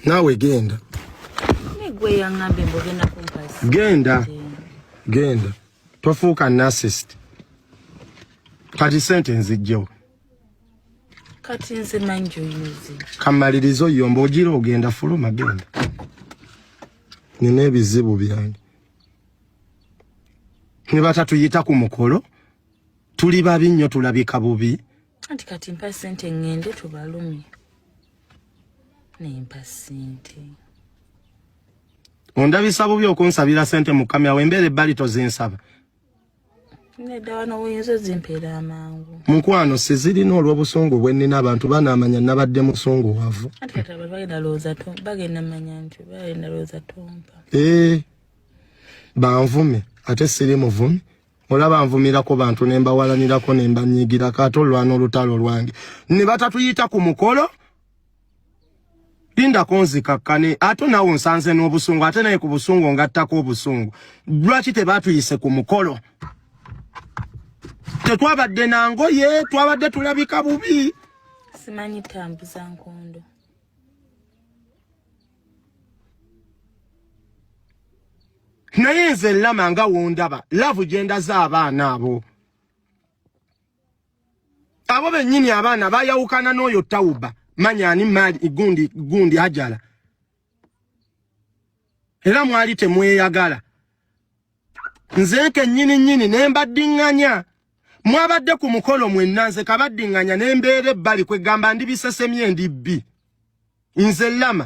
naawe genda genda genda tofuuka nasist kati sente nzijjewo kati nze manjo yuzi kamaliriza oyomba ogira ogenda fuluma genda nina ebizibu byange ne batatuyita ku mukolo tuli babi nnyo tulabika bubi anti kati mpa sente ŋŋende tubalumye naye mpa sente ondabisa bubi okunsabira sente mukamya wembeera ebbali tozinsaba mukwano sizirina olw'obusungu bwe nnina abantu banaamanya nabadde musungu wavu ee eh, banvume ate siri muvumi olaba nvumirako bantu ne mbawalanirako ne mbanyigirako ate olwana olutalo lwange ne batatuyita ku mukolo linda konzika kane ato nawo nsanze n'obusungu ate naye ku busungu ngattako obusungu lwaki tebatuyise ku mukolo tetwabadde na ngoye twabadde tulabika bubi simanyi tambuza nkondo naye nze lama nga wondaba lavu gyendaza abaana abo abo bennyini abaana bayawukana n'oyo tawuba manyani mali gundi gundi ajala era mwali temweyagala nze kennyini nnyini ne mbaddiŋŋanya mwabadde ku mukolo mwenna nze kabaddiŋŋanya ne mbeera ebbali kwe gamba ndi bisesemye ndi bbi nze lama